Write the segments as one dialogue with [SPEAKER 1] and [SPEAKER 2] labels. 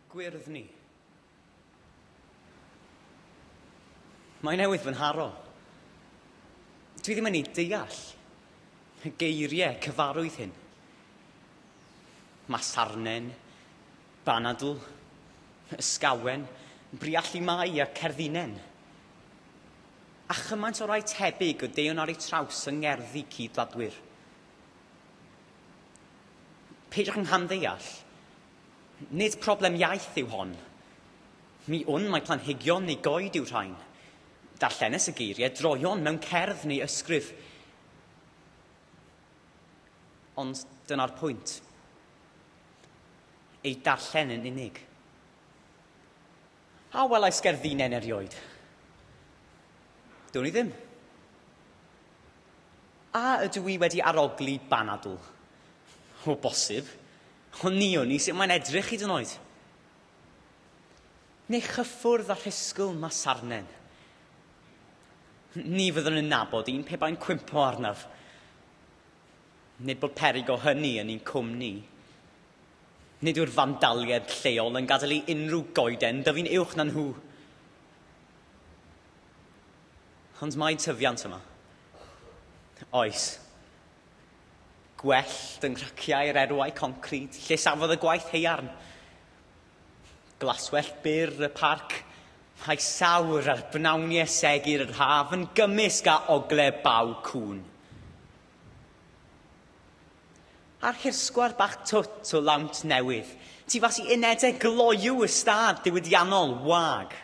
[SPEAKER 1] Gwyrddni. Mae newydd fy nharo. Dwi ddim yn ei deall. Y geiriau cyfarwydd hyn. Masarnen, banadl, ysgawen, briallu mai a cerddinen. A chymaint o rai tebyg o deuon ar ei traws yng ngerddi cyd-wladwyr. Peidiwch yng nghamddeall. Nid problem iaith yw hon. Mi wn mai planhigion neu goed yw rhain. Darllenes y geiriau droeon mewn cerdd neu ysgrif. Ond dyna'r pwynt. Eu darllen yn unig. A welais gerddinnen erioed? Down i ddim. A ydw i wedi arogli banadl? O bosib. Ond ni o'n i sut mae'n edrych hyd yn oed. Neu chyffwrdd a rhisgl ma sarnen. Ni fyddwn yn nabod un pe bai'n cwympo arnaf. Nid bod peryg o hynny yn ein cwmni. Nid yw'r fandaliaid lleol yn gadael i unrhyw goeden dyfu'n uwch na nhw. Ond mae tyfiant yma. Oes. Gwellt yng nghraciau'r erwau concrid, lle safodd y gwaith haearn. Glaswellt byr y parc, rhai sawr ar bnawnie segur yr haf yn gymysg â ogle baw cŵn. A'r hirsgwar bach twt o lawnt newydd, tu fas i unedau gloyw y stad diwydiannol wag.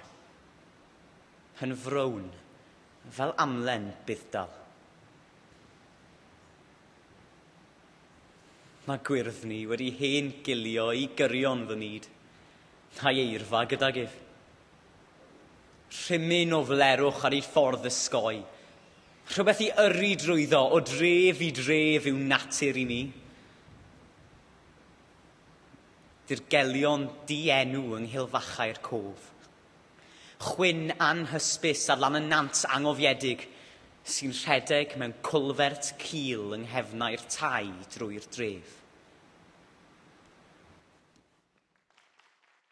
[SPEAKER 1] Yn frown, fel amlen budd-dal. Mae gwyrdd ni wedi hen gilio i gyrion fy myd, na'i eirfa gydag ef. Rhimyn o flerwch ar ei ffordd ysgoi, rhywbeth i yrru drwyddo o dref i dref yw natur i mi. Dirgelion di-enw yng nghilfachau'r cof. Chwyn anhysbys ar lan y nant angofiedig sy'n rhedeg mewn culvert cul yng nghefnau'r tai drwy'r dref.